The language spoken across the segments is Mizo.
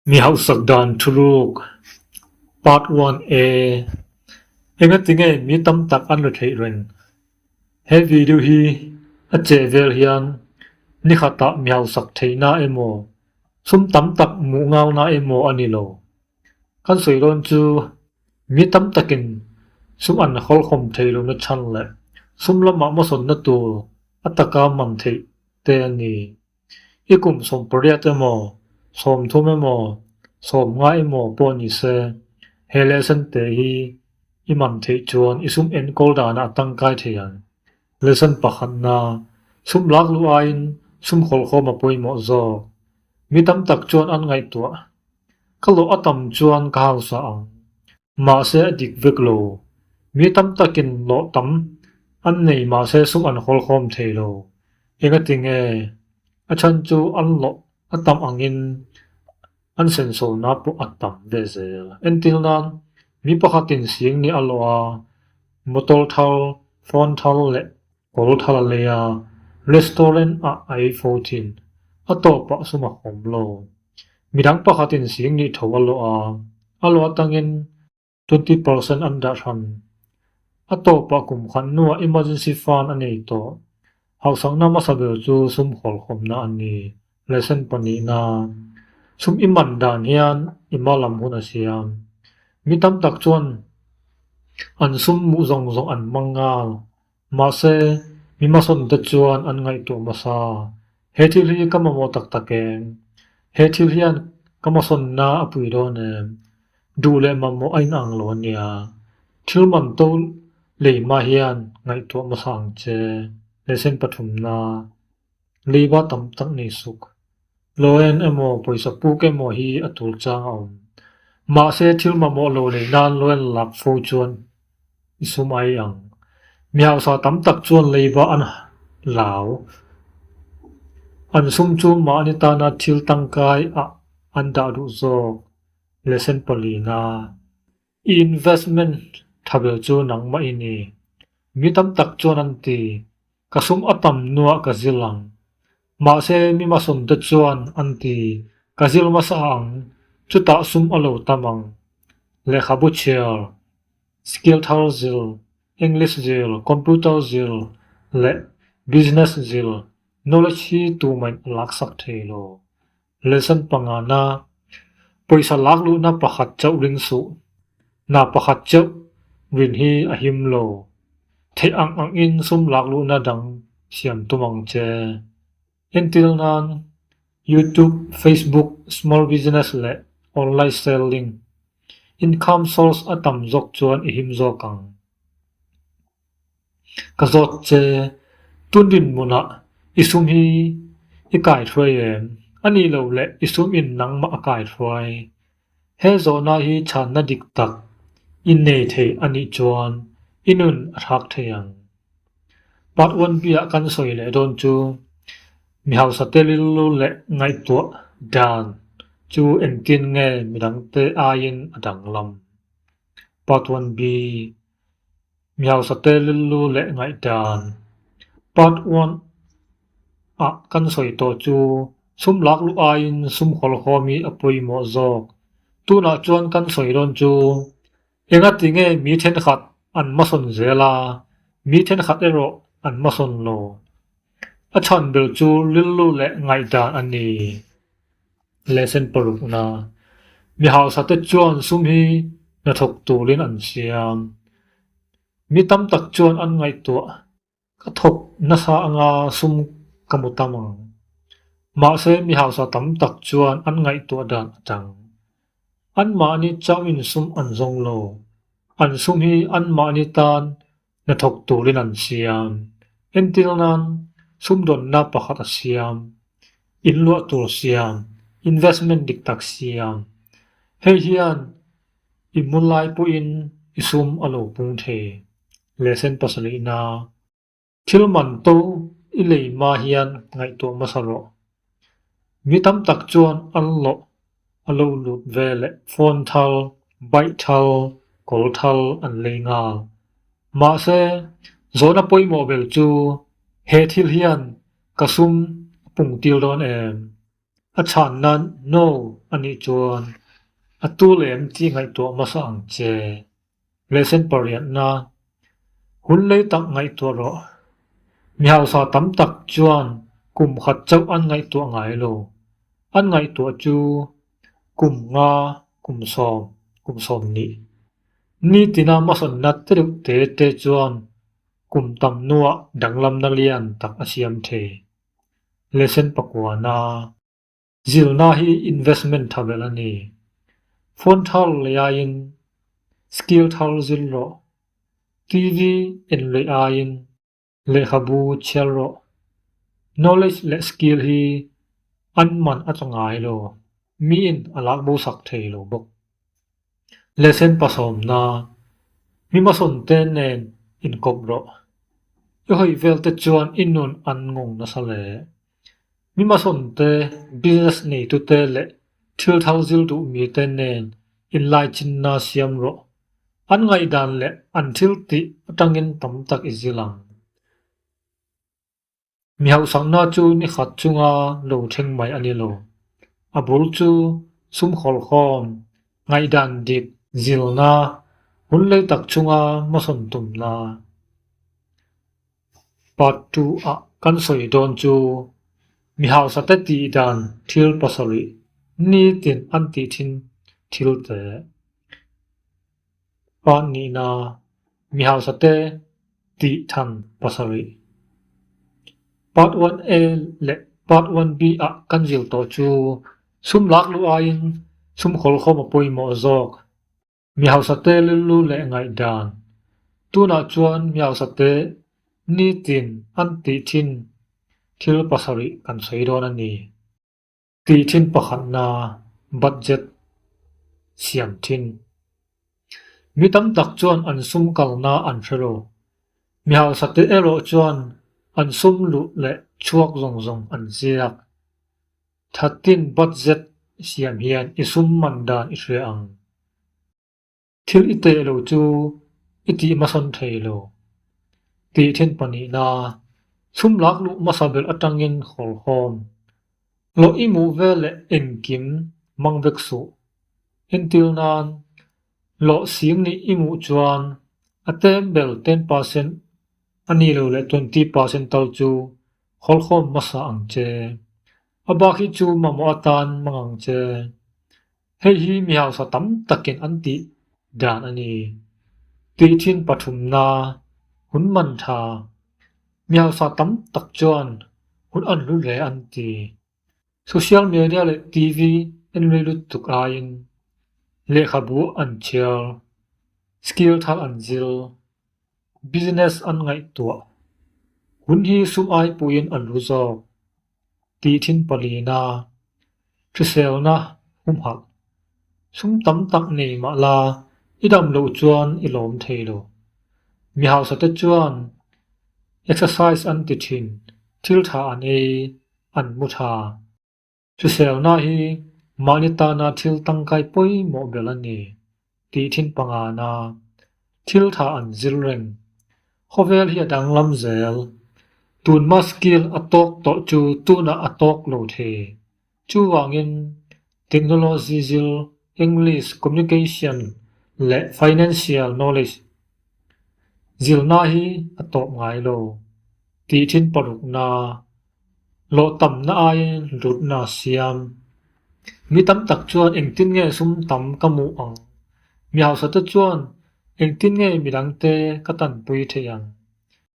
Mi hauhsak dan thuruk part one a enga ti nge mi tam tak an la theih reng he video hi a cheh vel hian ni khatah mi hausak theih na emaw sum tam tak muh ngau na emaw a ni lo kan sawi dawn chu mi tam takin sum an hawlhawm thei lo na chhan leh sum lamah masawn na tur a taka man theih te a ni. I kum sawm pariat emaw, sawm thum emaw, sawm ngai emaw pawh ni se, he lesson te hi i mam theih chuan i sum enkawl danah a tangkai thei ang. Lesson pakhat na, sum lak luh aiin sum hawlhawm a pawimawh zawk. Mi tam tak chuan an ngaihtuah. Ka lawh a tam chuan ka hausa ang. Mahse a dik vek lo. Mi tam takin hlawh tam an nei mahse sum an hawl khawm thei lo. Enga ti nge? A then chu an hlawh a tam angin an sensorna pawh a tam ve zel. Entir nan mi pakhatin siang nih a hlawh a, motor thar, phone thar leh Pawl Thalaleia restaurant ah ai fo chin a tawh pah sum a hawm lo. Midang pakhat in sing nih tho a lawh a, a lawh tang in twenty percent an dah hran. A tawh pah kum khan nu ah emergency fund a nei tawh. Hausakna hmasa ber chu sum hawl khawmna a ni, ration pahnihna. Sum i man dan hian i mal lam hun a siam. Mi tam tak chuan an sum muh zawng zawng an hmang ngal. Mahse, mi hmasawnte chuan an ngaihtuah hmasa, He thil hi ka mamawh tak tak em? He thil hian ka hmasawnna a pui dawn em? Duh leh mamawh a inang lo ania. Thil man to lei hma hian ngaihtuah hmasa ang che, lehsen pathumna. Leiba tam tak nei suk, Loen emaw pawisa puk emaw hi a tur chang a awm. Mahse thil mamawh lo leh nan Loen a lak fo chuan i sum ai ang. Mi hausa tam tak chuan leiba an lau. An sum chu mahni tana thil tangkaiah an dah duh zawk, lesson pawlina. I investment tha ber chu nangmah i ni? Mi tam tak chuan an ti. Ka sum a tam nuah ka zil ang. Mahse mi masawm te chuan an ti, Ka zil hmasa ang, chutah sum a lo tam ang. Lehkhabu chhiar, skill thar zil, English zil, computer zil leh business zil, knowledge hi tumain a laksak thei lo. Lesson panga na pawisa lak luhna pakhat chauh ring suh na pakhat chauh rin hi a him lo. Theih ang ang in sum lak luhna dang siam tum ang che. Entir nan YouTube, Facebook, small business leh online selling income source a tam zawk chuan i him zawk ang. Ka zawt che, tun rinhmunah i sum hi i kai hruai em? A nih loh le, i sum in nangmah a kai hruai. He zawhna hi chhanna dik tak i nei theih a nih chuan i nun a hrak thei ang. Part one bia kan sawi leh dawn chu mi hausa te rilru leh ngaihtuah dan chu engtin nge midangte aiin a dang lam? Part one bi. Miausate lillu leh ngaihdan part one ah kan sawi tawh chu sum lak luh aiin sum hawl hawm hi a pawimawh zawk. Tunah chuan kan sawi dawn chu engati nge mi thenkhat an hmasawn zel a, mi thenkhat erawh an hmasawn lo. A chhan ber chu lillu leh ngaihdan a ni. Lesson parukna, Mi hausate chuan sum hi hnathawk turin an siam. Mi tam tak chuan an ngaihtuah, Ka thawk nasa anga sum ka mu ta mang. Mahse mi hausa tam tak chuan an ngaihtuah dan a chang. Anmahni chauhin sum an zawng lo. An sum hi anmahni tan Hnathawk turin an siam. Entir nan, sumdawnna pakhat a siam. In luah tur siam, investment dik tak siam. Hei hian i hmu lai pawhin i sum a lo pung thei. Lehsen pasalihna. Thil man to i lei hma hian ngaihtuah hmasa rawh. Mi tam tak chuan an lawh a lo lut ve leh phone thal, bike thal, kawl thal an lei nghal. Mahse, zawhna pawimawh vel chu he thil hian ka sum a pung tir dawn em? A chhan nan no a nih chuan a tul em tih ngaihtuah hmasa ang che. Lesson pariatna, Hun lei tak ngaihtuah rawh. Mi hausa tam tak chuan kum khat chauh an ngaihtuah ngai lo. An ngaihtuah chu kum nga, kum sawm, kum sawm nih. Ni tina hmasawn nat te deuh te te chuan kum tam nuah danglamna lian tak a siam thei. Lesson pakuana. Zirna hi investment thavelh a ni. Phone thar leh aiin skill thar zir rawh, TV en leh aiin lehkhabu chhiar rawh. Knowledge leh skill hi an man a changai lo, miin a lak bo sak thei lo bawk. Lesson pasawmna, Mi hmasawnte nen inkawp rawh. I hawih velte chuan i nun an ngawng nasa leh Mi masawmte, business neitute leh thil thar zir duh mite nen inlaichinna siam rawh. An ngaihdan leh an thil tih atangin tam tak i zil ang. Mi hauhsakna chu ni khat chunga lo thleng mai a ni lo. A bul chu sum hawlhawm, ngaihdan dik, zilna, hunlei tak chunga masawm tumna, Part two a kan sawi dawn chu mi hausa te tih dan thil pasarih ni tin an tih thin thil te pan nih na mi hausa te tih than pasarih part one a leh part one b a kan zir tawh chu sum lak luh aiin sum khawl khawm a pawimawh zawk. Mi hausate lillu leh ngaihdan. Tunah chuan mi hausate nitin an tih thin thil pasarih kan sawi dawn a ni. Tih thin pakhatna, budget, siam thin. Mi tam tak chuan an sum kalna an hre lo. Mi hausate erawh chuan an sum luh leh chhuak zawng zawng an ziak. Thatin budget i siam hian i sum man dan i hria ang. Thil i teh lo chu i tih hmasawn thei lo. Tih then pahnihna, chhum lak luh hmasa ber atangin hawlhawm, loh i muh vel leh engkim mang vek suh. Entir nan, loh sim nih i muh chuan a tem ber ten percent a ni lo leh twenty percent tal chu Hawlkhawm hmasa ang che. A bak hi chu mamawh atan mang ang che. Hei hi mi hausa tam takin an tih dan a ni. Tui thin pathumna, hun man tha. Mi hausa tam tak chuan hun an hlu hle an ti. Social media leh TV en rei lutuk aiin lehkhabu an thiar, skill thar an zil, business an ngaihtuah, hun hi sum ai puiin an ru zawk tih thin pawlina hriselna humhalh sum tam tak nei mah la i damlo chuan i lawm thei lo. Mi hausate chuan exercise an ti thin, thil tha an ei, an hmu tha. Thusawnna hi mahni tana thil tangkai pawimawh ber a ni tih thin pangana thil tha an zir reng. Khawvel hi a danglam zel. Tun maskil a tawk tawh chu tunah a tawk lo thei. Chuvangin Technology zir, English, Communication leh Financial Knowledge zirna hi a tawp ngai lo. Tih thin parukna, hlawhtamna aiin hlutna siam. Mi tam tak chuan engtin nge sum tam ka mu ang? Mi hausa te chuan engtin nge midangte ka tanpui theih ang?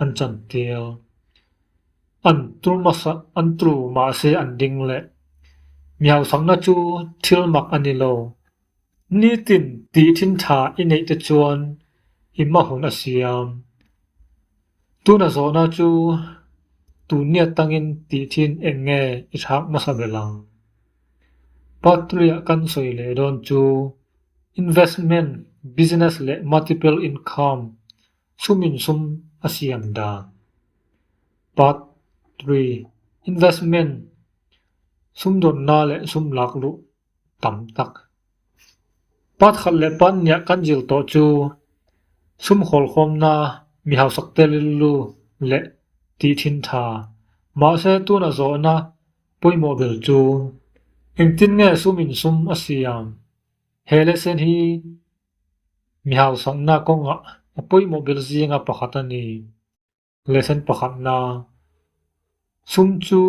an chantial. An tu mahla an tu mahse an ding leh. Miau fakna chu thil mak a ni lo. Nitin tih thin tha i neih te chuan i hma hun a siam. Tuna zawhna chu tun ni atangin tih thin eng nge i thlak hmasa ber ang. Part three ah kan sawi leh dawn chu investment, business leh multiple income Chumin sum a siam dan. Part Three, Investment Sumdawnna leh sum lakluh tam tak. Part khat leh part hniah kan zir tawh chu sum hawlkhawmna, mi hausakte rilru leh tih thin tha. Mahse tunah zawhna pawimawh ber chu engtin nge sumin sum a siam? He lesson hi Mi hausatna kawngah a pawimawh ber zinga pakhat a ni. Lesson pakhat na, Chhum chu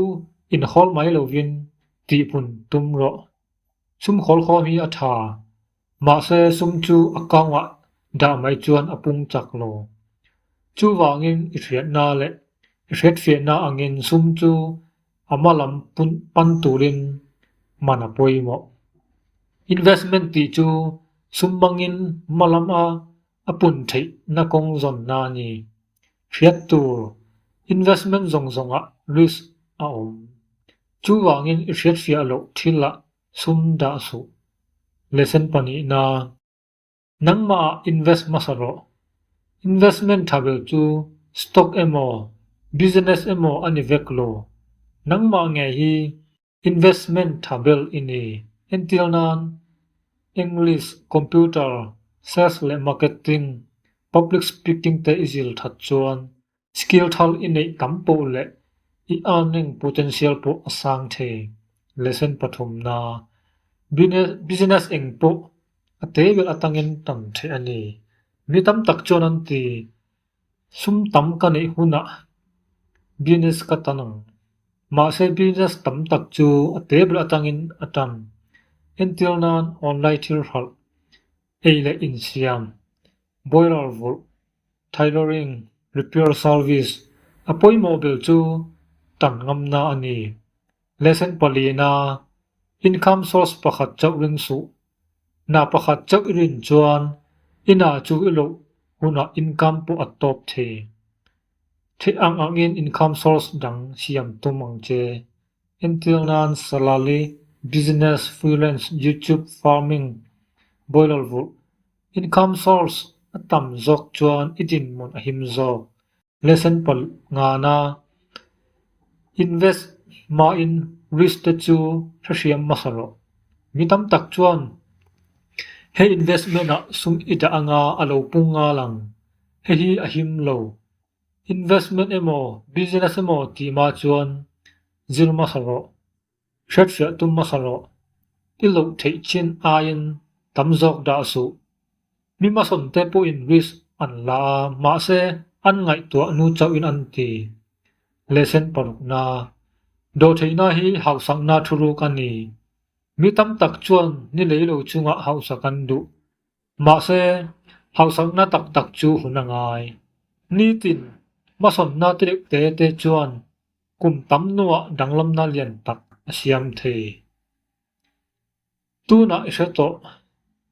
inhawl mai lovin tihhmun tum rawh. Chhum hawl khawm hi a tha, mahse chhum chu a kangah dah mai chuan a pung chak lo. Chuvangin i hriatna leh i hretfiahna angin chhum chu A hma lam pun pan turin hman a pawimawh. Investment tih chu sum mangin hma lam a a pun theih na kawng zawnna a ni. Hriat tur, investment zawng zawngah risk a awm. Chuvangin i hriatfiah loh thil ah sum dah suh. Lesson pahnihna. Nangmahah invest hmasa rawh. Investment thavel chu stock emaw, business emaw a ni vek lo. Nangmah nge hi investment thavel i ni? Entir nan, English, computer, sales leh marketing, public speaking te i zir that chuan Skill thar i neih tam pawh leh i earning potential pawh a sang thei. Lesson pathum na, Business eng pawh a te ber atangin tam theh a ni. Mi tam tak chuan an ti, Sum tam ka neih hunah business ka tan ang. Mahse business tam tak chu a te ber atangin a tan. Entir nan online thil hralh ei leh insiam, boiler vulh, tailoring, repair service, a pawimawh ber chu tan ngamna a ni. Lesson palina, Income source pakhat chauh ring suh, Hna pakhat chauh i rin chuan i hna chu i loh hunah income pawh at tawp thei. Thih ang angin income source dang siam tum ang che. Entir nan salary, business, freelance, YouTube, farming, bawihhlawlh vulh, income source, a tam zawk chuan i dinhmun a him zawk. Lesson pal ngana, Invest hmain risk te chu hrehriam hmasa rawh. Mi tam tak chuan he investment-ah sum i dah anga a lo pung ngal ang. Hehi a him lo, Investment emaw, business emaw tih mah chuan zir masa rawh, hriathriah tum masa rawh, i loh theih chin aiin tam zawk dah suh. Mi masawmte pawhin risk an la a, mahse an ngaihtuah nu chauhin an ti. Lesson parukna, Dawhtheihna hi hausakna thuruk a ni. Mi tam tak chuan ni lei lo chungah hausa kan duh, Mahse, hauhsakna tak tak chu hun a ngai. Nitin, hmawsawmna tireuh te te chuan kum tam nuah danglamna lian tak a siam thei. Tunah i hre tawh,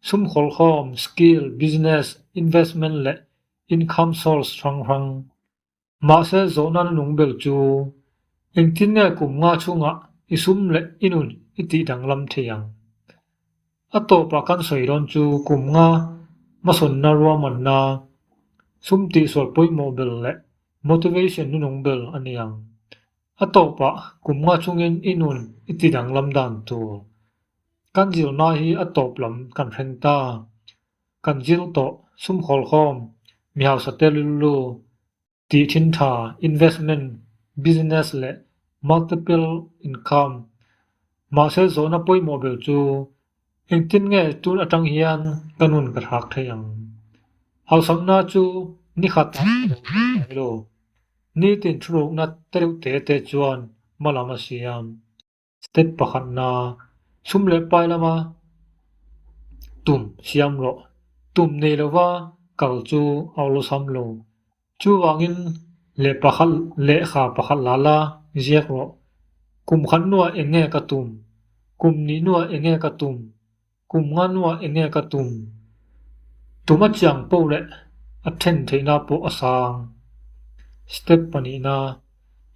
sum hawlhawm, skill, business, investment leh income source hrang hrang Mahse zawh nan a nung ber chu engtin nge kum nga chungah i sum leh i nun i tih danglam thei ang? A tawpah kan sawi dawn chu kum nga hmasawnna ruahmanna, sum tihsual pawimawh ber leh motivation nu nung ber a ni ang. A tawpah kum nga chungin i nun i ti danglam dan tur kan zirna hi a tawp lam kan hreng ta, Kan zil tawh sum hawlhawm mi hausa te lulu tih thin tha, investment, business leh multiple income. Mahse zawhna pawimawh ber chu engtin nge tun atang hian ka nun ka thlak thei ang? Hausakna chu ni khat ah ka lo tum mai lo. Nitin thu rukna tereuh te te chuan hma lam a siam. step pakhat na chhum leh pai lama tum siam rawh tum nei lova kal chu a awlh sam lo chuvangin leh pakhat lehkha pakhat la la ziak rawh kum khat nu ah enge ka tum kum ni nu ah enge ka tum kum nga nu ah enge ka tum tuma chiang paw leh a then theih na pawh a sang step panih na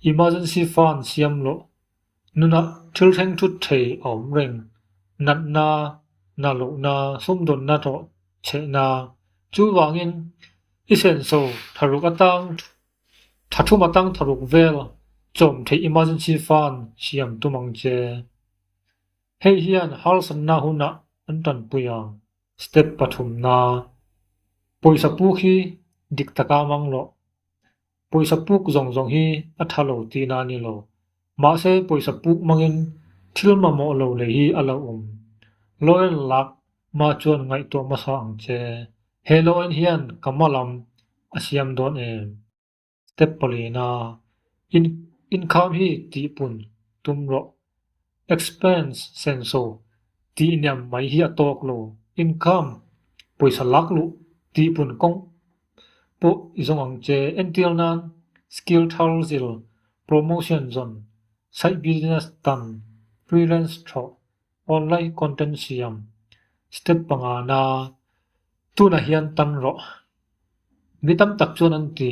emergency fund siam lawh. Nuna thil thleng thut thei a awm reng, natna, na lohna, sumdawnna hlawh chhehna. Chuvangin, i senso tharuk atang tha thum atang tharuk vel chawm theih emergency fund siam tum ang che. Hei hian harsatna hunah an tanpui ang. Step pathumna, pawisa pu khi dik taka mang loh. Pawisa puk zawng zawng hi a tha lo tiin a ni lo. Mahse pawisa puk mangin thil mamawh lo lei hi a lo awm. Lawyer lak mah chuan ngaihtuah hmasa ang che. He lawin hian ka ma lam a siam dawn em? Step pali ina, In inkham hi tihpun tum rawh Expense, Senso, tih niam mai hi a tawk lo. Income, Pawisa lak luh tih pun kawng pawh i zawng ang che. Ential nan, Skill thar zil, Promotion zawn, Side business tan, Freelance thawh, Online content siam, Step panga na. Tunah hian tan rawh. Mi tam tak chuan an ti.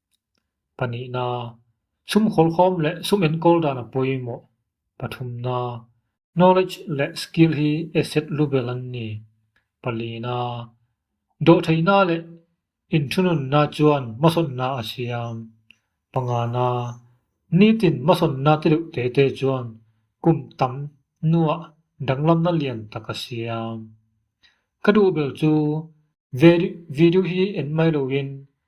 panihna, sum kawlkhawm leh sum enkawl dana pawimawh, pathumna, knowledge leh skill hi asset lu bel an ni, palina, dawhtheihna leh inthununna chuan hmasawnna a siam, pangana, nitin hmasawnna ti deuh te te chuan kum tam hnuah danglamna lian tak a siam. Ka duh bel chu, Ve video hi enmai loin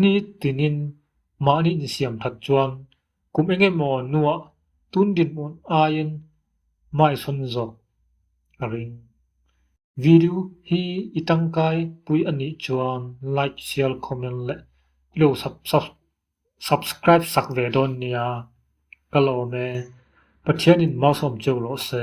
Ni tingin mahni ni siam that chuan kum eng emaw nuah tun dinhmun aiin mai sawn zawk a ring. Video hi i tangkai pui a nih chuan like share comment leh i lo subscribe sak ve dawn nia. Ka lawm e. Pathianin mau sawm cheu rawh se.